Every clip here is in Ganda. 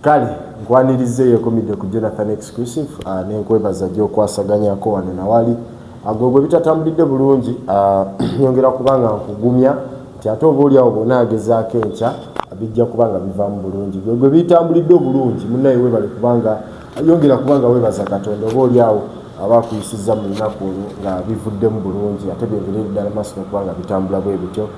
kale nkwaniriza eyekomidde ku jonathan exclusive uh, nenkwebaza gyokwasaganyako wano nawali agwe ah, gwe bitatambulidde bulungi ah, nyongera kubanga nkugumya nti ate oba oliawo bona agezaako enkya bijja kubanga bivaamu bulungi gwe gwe bitambulidde obulungi munaye webale kubanga yongera kubanga webaza katonda oba oliawo aba akuyisiza mu lunaku olwo nga bivuddemu bulungi ate byongere ddala maaso nokubanga bitambula bwe bityo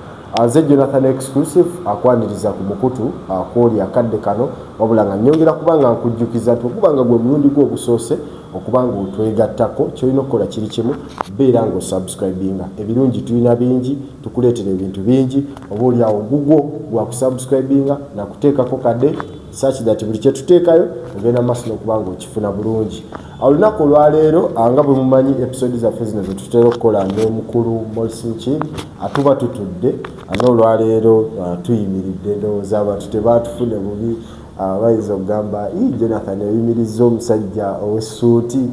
Nze Jonathan Exclusive akwaniriza ku mukutu akwoli uh, akadde kano wabula nga nyongera kuba nga nkujjukiza nti okuba nga gwe mulundi gwo ogusoose okuba nga otwegattako kyolina okukola kiri kimu beera nga osubscribinga ebirungi tulina bingi tukuleetera ebintu bingi oba oli awo gugwo gwa kusubscribinga nakuteekako kadde such that buli kyetuteekayo ogenda maaso nokuba nga okifuna bulungi olunaku olwaleero nga bwe mumanyi episode zaffe zino zetutera okukola nomukulu molsinki atuba tutudde nga olwaleero uh, tuyimiridde ndowooza abantu tebatufune bubi uh, bayinza okugamba jonathan oyimirizza omusajja owesuuti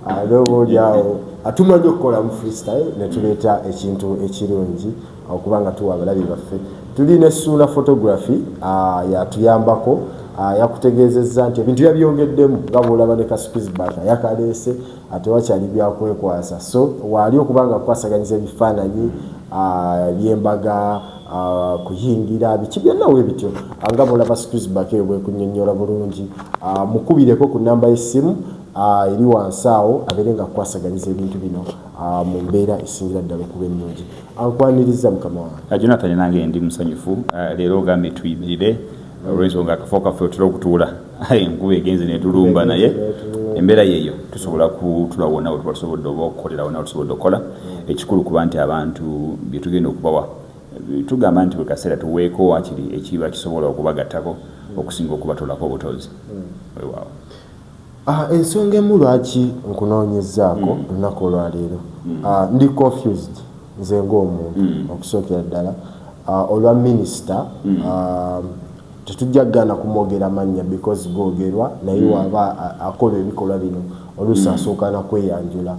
uh, noba oliawo atumanyi okukola mu freestyle netuleeta ekintu ekirungi okuba nga tuwa abalabi baffe tuli ne suula photography ah, yatuyambako ah, yakutegeezezza nti ebintu yabyogeddemu nga bwolaba ne kasukizbata yakaleese atewakyali ah, byakwekwasa so waali okuba nga kukwasaganyiza ebifaananyi byembaga Ah, kuyingira biki byonna we bityo ah, nga mulaba squisbak eyo bwekunyonyola bulungi ah, mukubireko ku namba y'essimu eri wansi awo abeere nga kukwasaganyiza ebintu bino mu mbeera esingira ddala okuba ennungi ankwaniriza mukama wange ah, jonathan nange ndi musanyufu ah, leero ogambye tuyimirire ah, olwensonga akafo kaffe otera okutuula enkuba egenze netulumba naye embeera yeeyo tusobola kutula wona wetuba tusobodde oba okukolera wona wetusobodde okukola ekikulu kuba nti abantu byetugenda okubawa tugamba nti buli kaseera tuweeko wakiri ekiba kisobola okubagattako okusinga okubatolako obutozi hmm. wewaawo Ah, ensonga emu lwaki nkunoonyezaako mm. olunaku olwaleero mm. ah, ndi confused nze ngaomuntu mm. okusookera ddala ah, olwa minisita tetujja kugana kumwogera mannya because googerwa naye waba akola ebikolwa bino oluusi asooka nakweyanjula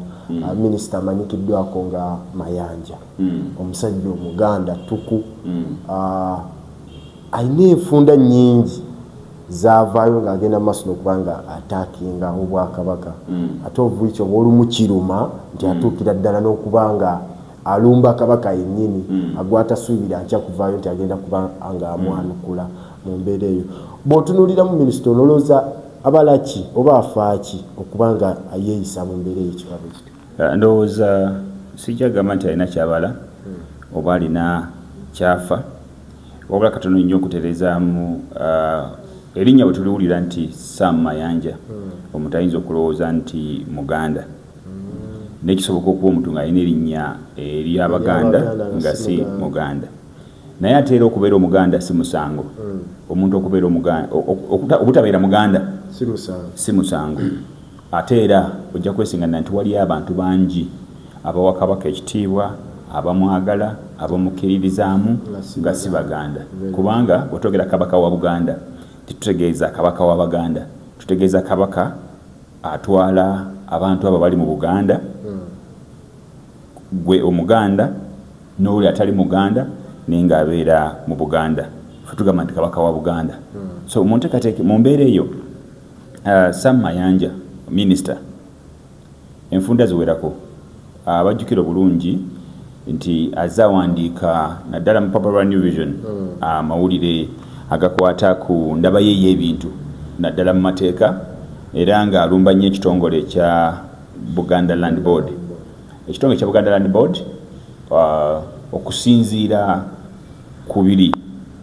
minisita amanyikiddwako nga mayanja omusajja omuganda ttuku alina enfunda nyingi zavaayo ng'agenda maaso nokuba nga atakinga obwakabaka mm. ate ovuiki oba olumu kiruma nti mm. atuukira ddala n'okuba nga alumba kabaka yennyini mm. agwatasuubira nkya kuvaayo nti agenda kuba nga amwanukula mu mbeera eyo bw'otunuuliramu minisita onolowooza abalaki oba afaaki okuba nga ayeeyisa mu mbeera eyo ekibabe kiti Eh, ndowooza sijja gamba nti alina kyabala oba alina kyafa wabula katono nnyo okuterezaamu eh, erinnya bwe tuliwulira nti sam mayanja hmm. omuntu ayinza okulowooza nti muganda hmm. naye kisoboka okuba omuntu ng'alina erinnya ery'abaganda nga si muganda naye ate era okubeera omuganda si musango hmm. omuntu okubeera obutabeera muganda si musango Ate era ojja kwesinganira nti waliyo abantu bangi abawa Kabaka ekitiibwa, abamwagala, abamukkiririzaamu nga si Baganda kubanga bwe twogera Kabaka wa Buganda tetutegeeza Kabaka wa Baganda, tutegeeza Kabaka atwala abantu abo abali mu Buganda, hmm. gwe Omuganda n'oli atali Muganda naye ng'abeera mu Buganda. Ffe tugamba nti Kabaka wa Buganda. Hmm. So mu nteekateeka mu mbeera eyo Uh, Sam Mayanja, Minister, enfunda ziwerako abajjukira obulungi nti azze awandiika naddala mu papa lwa New Vision hmm. amawulire agakwata ku ndaba ye y'ebintu naddala mu mateeka era ng'alumba nnyo ekitongole ekya Buganda Land Board ekitongole ekya Buganda Land Board uh, okusinziira ku biri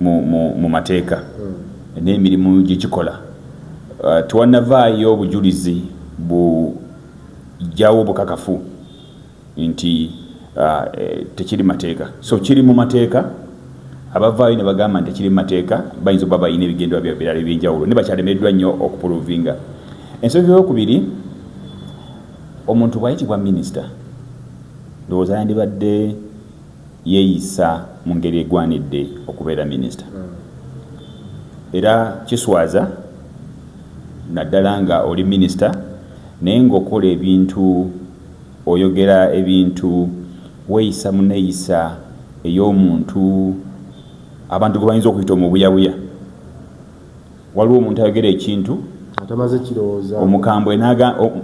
mu mateeka hmm. n'emirimu gye kikola. Uh, Tewanavaayo obujulizi bujjawo obukakafu nti uh, eh, tekiri mateeka. So kiri mu mateeka. abavaayo ne bagamba nti kiri mateeka bayinza okuba balina ebigendwa bya birala ebyenjawulo ne bakyalemereddwa nnyo okupuluvinga ensonga eyokubiri omuntu bwayitibwa minisita ndowooza yandibadde yeeyisa mu ngeri egwanidde okubeera minisita era kiswaza naddala nga oli minisita naye ng'okola ebintu oyogera ebintu weeyisa mu neeyisa ey'omuntu abantu gwe bayinza okuyita omubuyabuya waliwo omuntu ayogera ekintu atamaze kirowooza omukambwe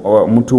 omuntu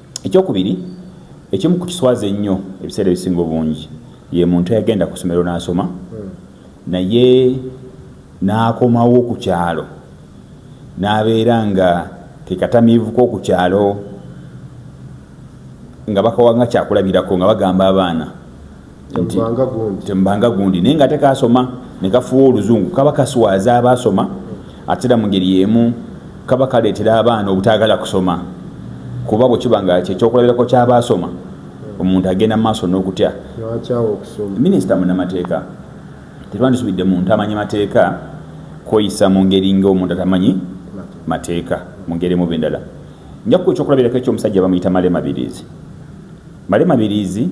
Ekyokubiri, ekimu ku kiswaza ennyo ebiseera ebisinga obungi ye muntu eyagenda ku ssomero n'asoma naye n'akomawo ku kyalo n'abeera nga kekatamiivuko oku kyalo nga bakawa nga kyakulabirako nga bagamba abaana tembanga gundi naye nga ate kasoma nekafuwa oluzungu kaba kaswaza abasoma atera mu ngeri yemu kaba kaleetera abaana obutagala kusoma kuba bwekiba nga kyekyokulabirako kyabasoma omuntu agenda mu maaso n'okutya minisita munamateeka tetwandisubidde muntu amanyi mateeka kweyisa mu ngeri ngaomuntu atamanyi mateeka mu ngeri emuba endala njakuba ekyokulabirako ekyomusajja bamuyita male mabirizi Male Mabiriizi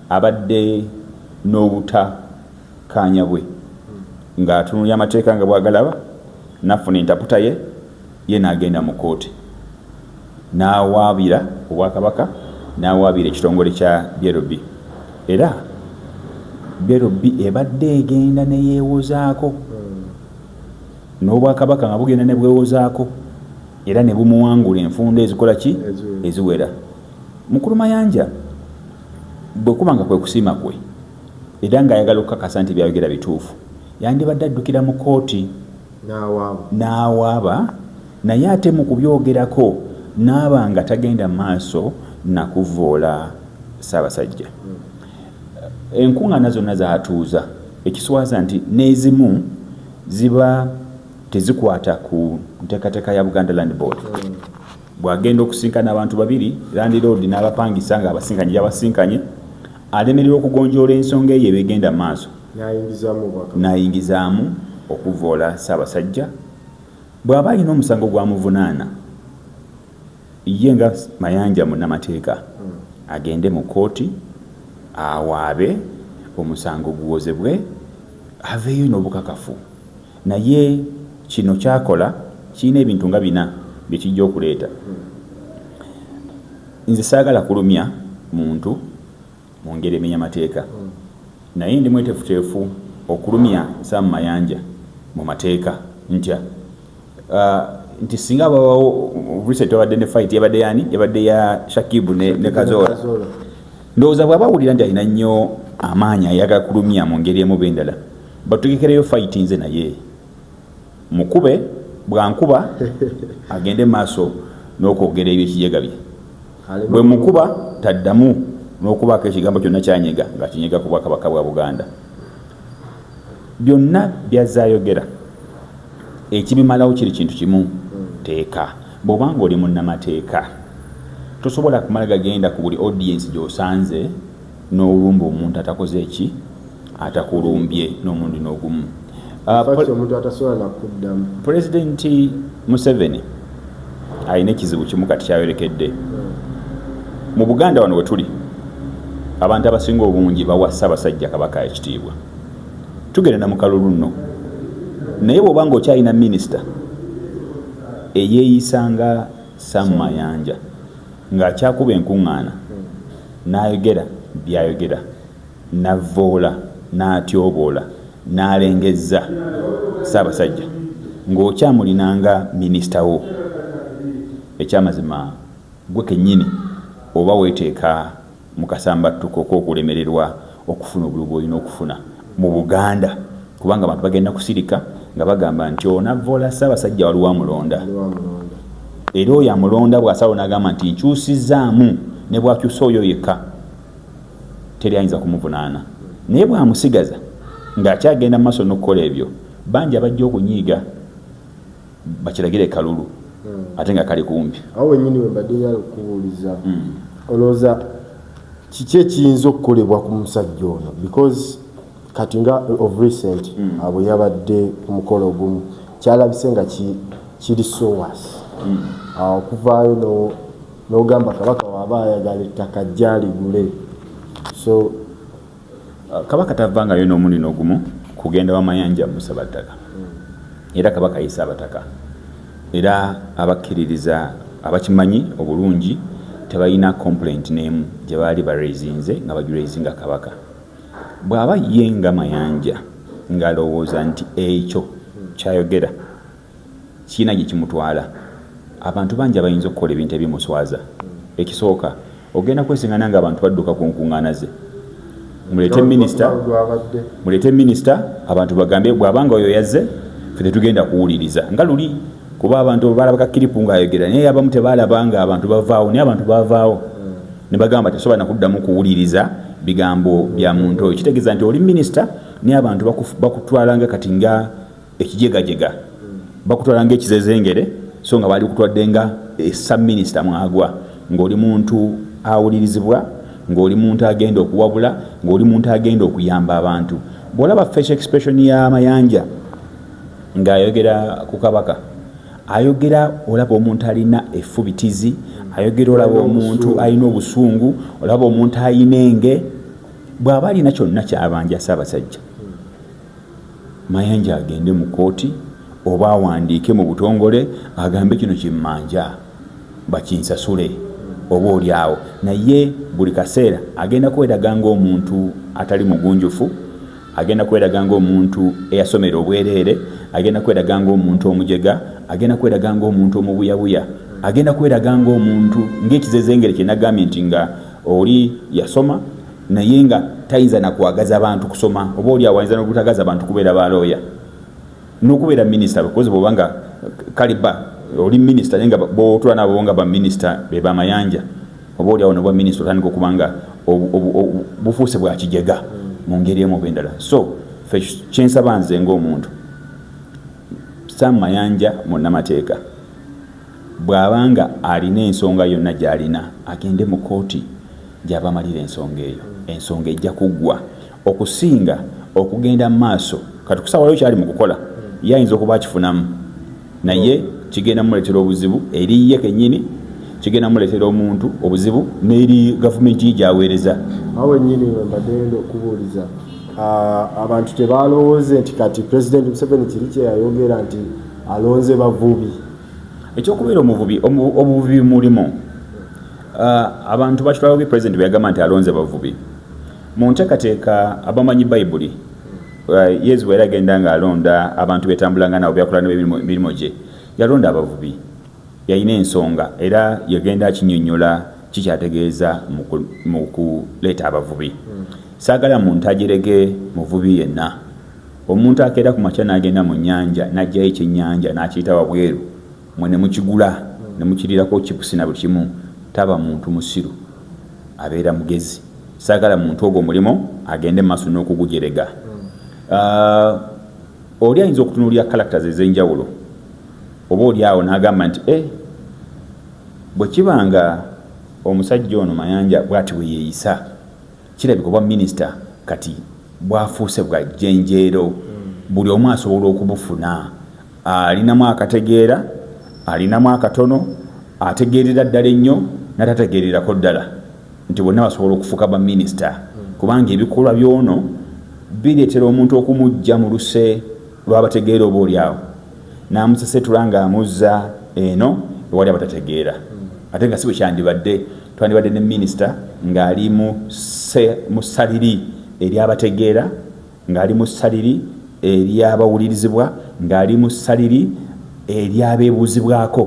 abadde n'obuta kaanya bwe nga atunulya amateeka nga bwagalaba nafuna entaputa ye ye nagenda mu kooti nawaabira obwakabaka nawaabira ekitongole kya brb era brb ebadde egenda neyewozaako n'obwakabaka nga bugenda nebwewozaako era nebumuwangula enfunda ezikola ki eziwera Mukulu Mayanja bwe kuba nga kwe kusiima kwe era ng'ayagala okukakasa nti byayogera bituufu yandibadde addukira mu kkooti n'awaaba naye ate mu kubyogerako n'aba nga tagenda maaso na kuvvoola Ssaabasajja. Hmm. Enkuŋŋaana zonna zaatuuza ekiswaza nti n'ezimu ziba tezikwata ku nteekateeka ya Buganda Land Board. Hmm. bw'agenda okusinkana abantu babiri landiroodi n'abapangisa ng'abasinkanye gy'abasinkanye alemererwa okugonjoola ensonga eyo ebegenda mu maaso n'ayingizaamu okuvvoola Ssaabasajja bw'aba alina omusango gwamuvunaana ye nga Mayanja munnamateeka hmm. agende mu kkooti awaabe omusango guwozebwe aveeyo n'obukakafu Naye kino ky'akola kirina ebintu nga bina bye kijja okuleeta. Nze saagala kulumya muntu mu ngeri emenya mateeka naye ndi mweteefuteefu okulumya Sam Mayanja mu mateeka. Ntya nti singa wabawo recent wabadde ne fight yabadde yani yabadde ya Shakibu ne, ne Kazola ndowooza bw'aba awulira nti alina nnyo amaanyi ayagala kulumya mu ngeri emu bendala batugekereyo fight nze naye mukube bwankuba agende maaso n'okwogera ebyo ekijega bye bwe mukuba taddamu n'okubaako ekigambo kyonna kyanyega nga kinyega ku bwakabaka bwa buganda byonna byazaayogera ekibimalawo kiri kintu kimu teeka bw'oba nga oli munnamateeka tosobola kumala gagenda ku buli audiensi gy'osanze n'olumba omuntu atakoze ki atakulumbye n'omundi n'ogumu ah, pulezidenti museveni alina ekizibu kimu kati kyayolekedde mu buganda wano wetuli abantu abasinga obungi bawa ssaabasajja kabaka ekitiibwa tugenda na mukalulu nno naye bwoba nga okyalina minisita eyeeyisa nga samumayanja Ng'akyakuba enkuŋŋaana, n'ayogera by'ayogera, n'avvoola, n'atyoboola, n'alengezza Ssaabasajja ng'okyamulina nga minisita wo. Eky'amazima ggwe kennyini oba weeteeka. mu kasambattuko k'okulemererwa okufuna obululu bw'olina okufuna mu Buganda kubanga abantu bagenda kusirika nga bagamba nti onavvoola Ssaabasajja waliwo amulonda era oyo amulonda bw'asalawo n'agamba nti nkyusizzaamu ne bw'akyusa oyo yekka teri ayinza kumuvunaana naye bw'amusigaza ng'akyagenda mu maaso n'okukola ebyo bangi abajja okunyiiga bakiragire kalulu hmm. ate nga kali kumpi awo wenyini wembadde nyala okukubuuliza hmm. olowooza kiki ekiyinza okukolebwa ku musajja ono because kati nga of recent hmm. abo yabadde ku mukolo ogumu kyalabise nga kiri sowas awo okuvaayo n'ogamba kabaka waaba ayagala ettaka jjaligule so kabaka tavangayo n'omuni n'ogumu kugenda wamayanja musaba ttaka era kabaka yisa abataka era abakkiririza abakimanyi obulungi tebalina complaint n'emu gye baali barezinze nga bajurezinga kabaka bw'aba ye nga mayanja ng'alowooza nti ekyo kyayogera kirina gye kimutwala. Abantu bangi abayinza okukola ebintu ebimuswaza. Ekisooka, ogenda kwesengana ng'abantu badduka ku nkuŋŋaana ze. Muleete minisita, muleete minisita abantu bagambe bw'aba nga oyo yazze ffe tetugenda kuwuliriza nga luli kuba abantu balabaka kiripu ng'ayogera naye abamu tebaalaba ng'abantu bavaawo naye abantu bavaawo hmm. ne bagamba tesobola nakuddamu kuwuliriza bigambo bya muntu oyo kitegeeza nti oli minisita naye abantu bakutwalanga kati nga ekijegajega bakutwala nga ekizezengere so nga baali kutwadde nga esaminisita mwagwa ng'oli muntu awulirizibwa ng'oli muntu agenda okuwabula ng'oli muntu agenda okuyamba abantu bw'olaba facial expression ya mayanja ng'ayogera ku kabaka ayogera olaba omuntu alina efubitizi ayogera olaba omuntu alina obusungu olaba omuntu alina enge bw'aba alina kyonna kyabanja ssaabasajja Mayanja agende mu kkooti oba awandiike mu butongole agambe kino kimmanja bakinsasule oba oli awo naye buli kaseera agenda kweraga ng'omuntu atali mugunjufu agenda kweraga ng'omuntu eyasomera obwereere agenda kweraga ng'omuntu omujega agenda kweraga ng'omuntu omubuyabuya agenda kweraga ng'omuntu ng'ekizezengere kye nagambye nti nga oli yasoma naye nga tayinza nakwagaza bantu kusoma oba oli awayinza nobutagaza bantu kubeera balooya nokubeera minisita bekozi bwoba nga kaliba oli minisita naye nga botula nabo nga baminisita bebamayanja oba oli awo nobwa minisita otandika okubanga bufuuse bwakijega mu ngeri emu obendala so kyensaba nze ngaomuntu sam mayanja munamateeka bwabanga alina ensonga yonna gyalina agende mu kooti gy'abamalira ensonga eyo, ensonga ejja kuggwa okusinga okugenda mu maaso. Kati kusaawayo kyali mu kukola, ye ayinza okuba akifunamu, naye kigenda muleetera obuzibu eri ye kennyini, kigenda muleetera omuntu obuzibu n'eri gavumenti ye gy'aweereza. Awo wennyini we mbadde ngenda okubuuliza abantu tebalowooze nti kati pulezidenti Museveni kiri kye yayogera nti alonze bavubi. Ekyokubeera omuvubi obuvubi mulimu Uh, abantu bakitwala bubi president bweyagamba nti alonze bavubi mu ntekateeka abamanyi bayibuli uh, yezu bweyali agenda nga alonda abantu betambulanga nabo byakola nemirimu gye yalonda abavubi yalina ensonga era yagenda akinyonyola kikyategeeza mu kuleeta abavubi saagala muntu ajerege muvubi yenna omuntu akeera ku makya n'agenda mu nnyanja n'ajjayo ekyennyanja n'akiyita wabweru mwe ne mukigula ne mukirirako chips na buli kimu taba muntu musiru abeera mugezi sagala muntu ogwo mulimo agende maso n'okugujerega uh, oli ayinza okutunulira characters ez'enjawulo oba oli awo n'agamba nti eh, bwe kiba nga omusajja ono mayanja bwati bwe yeeyisa kirabika obwa minisita kati bwafuuse bwa jjenjeero hmm. buli omu asobola okubufuna alinamu akategeera alinamu akatono ategeerera ddala ennyo natategeererako ddala nti bonna basobola okufuuka baminisita kubanga ebikolwa byono bireetera omuntu okumujja mu luse lwabategeera oba olyawo namusesetula nga amuzza eno ewali abatategeera ate nga si bwekyandibadde twandibadde ne minisita ng'ali mu saliri eryabategeera Ng'ali mu ssaliri ery'abawulirizibwa, ng'ali mu ssaliri ery'abeebuuzibwako,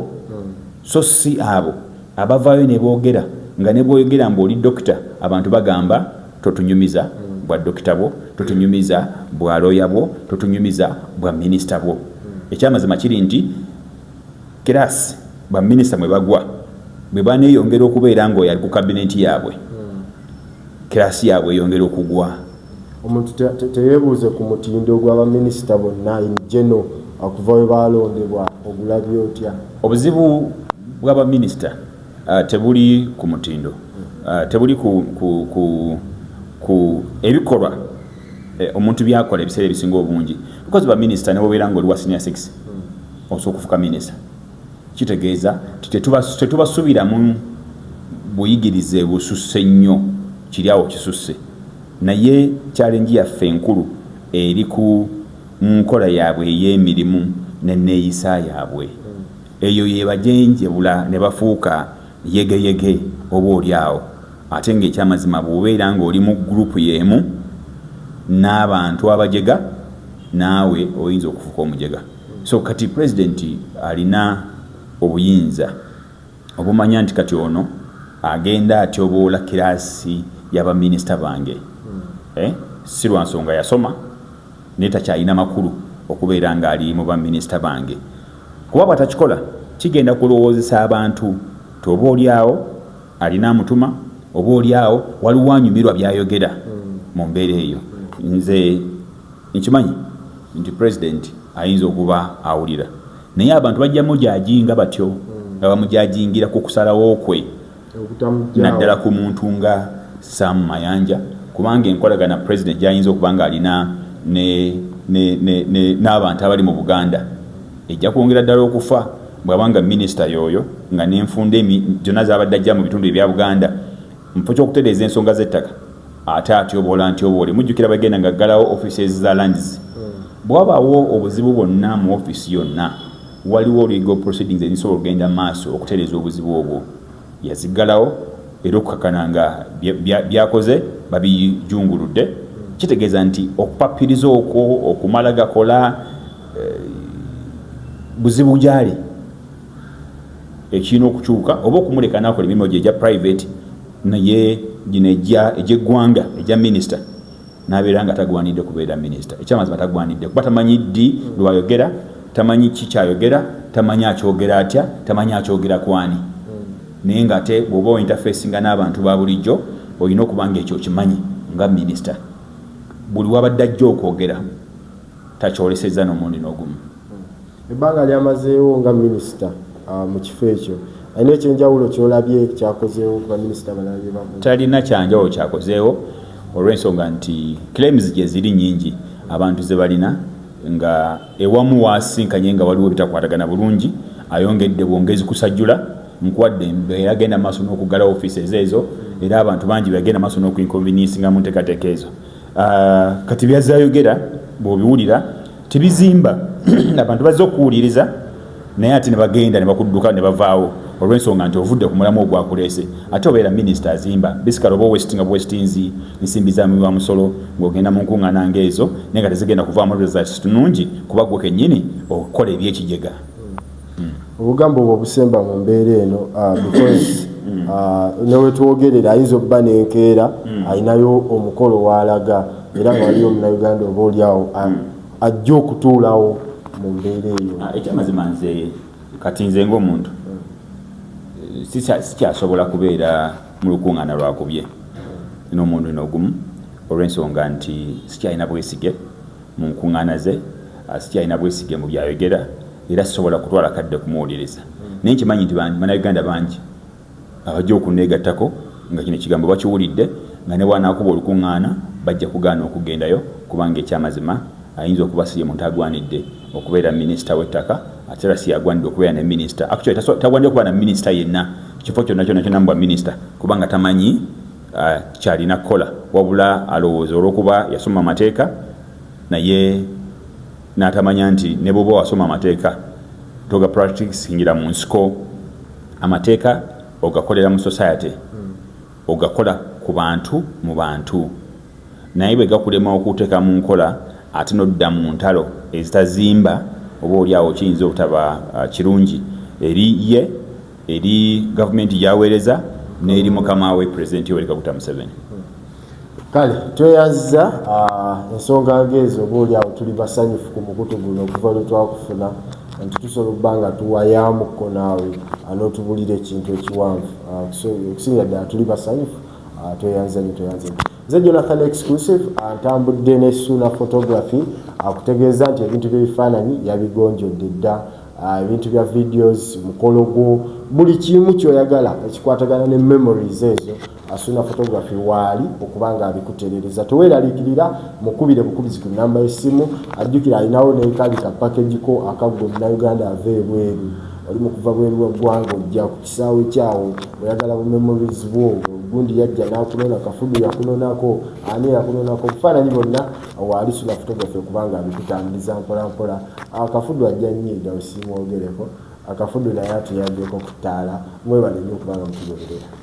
so si abo abavaayo ne boogera nga ne bw'oyogera mbu oli dokita abantu bagamba totunyumiza bwa dokita bwo, totunyumiza bwa looya bwo, totunyumiza bwa minisita bwo. Ekyamazima kiri nti kiraasi baminisita mwe bagwa bwe baneeyongera okubeera ng'oyo ali ku kabineeti yaabwe, kiraasi yaabwe eyongera okugwa. omuntu teyebuuze ku mutindo gwa baminisita bonna in geno okuva we baalondebwa ogulabye otya obuzibu bwa baminisita uh, tebuli ku mutindo uh, tebuli ku, ku, ku, ku ebikolwa eh, omuntu byakola ebiseera ebisinga obungi because baminisita newobeera nga oli wa senior six osobola okufuka minisita kitegeeza tetubasubiramu buyigirize bususse nnyo kiryawo kisusse naye kyalenji yaffe enkulu eri ku nkola yaabwe ey'emirimu neneeyisa yaabwe eyo yebajenjebula ne bafuuka yegeyege oba oli awo ate ngaekyamazima bwobeera ngaoli mu gurupu y'emu n'abantu abajega naawe oyinza okufuuka omujega so kati president alina obuyinza obumanya nti kati ono agenda atyoboola kiraasi yabaminisita bange hmm. eh? si lwa nsonga yasoma naye takyalina makulu okubeera ngaali mu baminisita bange kuba bwatakikola kigenda kulowoozesa abantu tioba olyawo alina amutuma oba olyawo waliwo anyumirwa byayogera hmm. mu mbeera eyo hmm. nze Nkimanyi nti president ayinza okuba awulira naye abantu bajja mujajinga batyo hmm. nga bamujajingira ku kusalawo kwe naddala ku muntu nga Sam Mayanja kubanga enkolagana president gyayinza okuba nga alina n'abantu abali mu Buganda ejja kwongera ddala okufa bwaba nga minisita yoyo nga nenfunda zona zabadde ajja mu bitundu ebya buganda mufo kyokutereeza ensonga zettaka ate atyoboola ntyoboole mujjukira bagenda nga ggalawo offices za lands bwabawo obuzibu bwonna mu office yonna waliwo legal proceedings ezisobola okugenda maaso okutereeza obuzibu obwo yaziggalawo era okukakana nga byakoze babijunguludde kitegeeza nti okupapiriza okwo okumala gakola eh, buzibu gyali ekirina okukyuka oba okumuleka nakola emirimu gye egya private naye gino egy'eggwanga egya minisita nabeera nga tagwanidde kubeera minisita ekyamazima tagwanidde kuba tamanyi ddi lwayogera tamanyi ki kyayogera tamanyi akyogera atya tamanyi akyogera kwani naye nga ate bwoba ointerfaceinga n'abantu ba bulijjo olina okuba nga ekyo okimanyi nga minisita buli wabadde ajja okwogera takyolesezza n'omundi n'ogumu Ebbanga lyamazeewo nga minisita ah, mu kifo ekyo alina ekyenjawulo kyolabye kyakozeewo ku baminisita balala bye bakoze? Talina kyanjawulo kyakozeewo olw'ensonga nti claims gye ziri nyingi abantu ze balina nga ewamu waasinkanye nga waliwo bitakwatagana bulungi ayongedde bwongezi kusajjula nkuwadde embeera agenda maaso n'okuggala ofiisi ezo ezo era abantu bangi bagenda maaso n'okuinconveniensinga mu nteekateeka ezo kati byazze ayogera bw'obiwulira tebizimba abantu bazze okuwuliriza naye ate ne bagenda ne bakudduka ne bavaawo olw'ensonga nti ovudde ku mulamu ogwakuleese ate obeera minisita azimba bisikala oba owestinga bwestinzi nsimbi za muwi wa musolo ng'ogenda mu nkuŋŋaana ng'ezo naye nga tezigenda kuvaamu results tunungi kuba gwe kennyini okukola ebyekijega obugambo obwo obusemba mu mbeera eno uh, because mm. uh, newetwogerera ayinza okuba nenkeera mm. alinayo omukolo waalaga era nga waliyo omunauganda oba olyawo uh, mm. ajja okutuulawo mu mbeera eyo ah, ekyamazima nze kati nze ngaomuntu sikyasobola kubeera mu lukuŋŋaana lwakubye n'omuntu nogumu olw'ensonga nti sikyalina bwesige mu nkuŋŋaana ze sikyalina bwesige mu byayogera era sisobola kutwala kadde kumuwuliriza naye nkimanyi nti banauganda bangi abajja okunneegattako nga kino kigambo bakiwulidde nga ne bwanaakuba olukuŋŋaana bajja kugaana okugendayo kubanga ekyamazima ayinza okuba si ye muntu agwanidde okubeera minisita w'ettaka ate era si yagwanidde okubeera ne minisita actually tagwanidde okubeera na minisita yenna kifo kyonna kyonna kyonna mubwa minisita kubanga tamanyi uh, kyalina kukola wabula alowooza olw'okuba yasoma amateeka naye N'atamanya nti ne bw'oba wasoma amateeka toga practicingira mu nsiko, amateeka ogakolera mu society, ogakola ku bantu mu bantu naye bwe gakulema okuteeka mu nkola ate n'odda mu ntalo ezitazimba oba oli awo kiyinza obutaba uh, kirungi eri ye eri gavumenti gyaweereza n'eri mukama we pulezidenti yoweri kaguta museveni. kale tweyazza uh, ensonga ngeezo oba oli awo tuli basanyufu ku mukutu guno okuva lwe twakufuna nti tusobola okuba nga tuwayaamuko naawe uh, n'otubulira ekintu ekiwanvu uh, okusinga ddala tuli basanyufu tweyanza nyo tweyanza nyo nze jonathan exclusive ntambudde ne suuna photography akutegeeza nti ebintu byebifaananyi yabigonjodde dda Ah, ebintu bya videos mukolo gwo buli kimu kyoyagala ekikwatagana ne memories ezo Asuna photography waali okuba nga abikutereereza. Teweeraliikirira mukubire bukubizi ku nnamba y'essimu. Ajjukira alinawo n'ekaali ka package ko aka ggwe Munnayuganda ava ebweru oli mu kuva bweru wa ggwanga ojja ku kisaawe kyawo oyagala bu memories bwo gundi yajja n'akunona kafudu yakunonako ani yakunonako obufaananyi bonna waali sula photography okuba nga abikutambuliza mpolampola akafudu ajja nnyo edawe simwogereko akafudu naye atuyaddeko ku ttaala mwebale nnyo okuba nga mutugoberera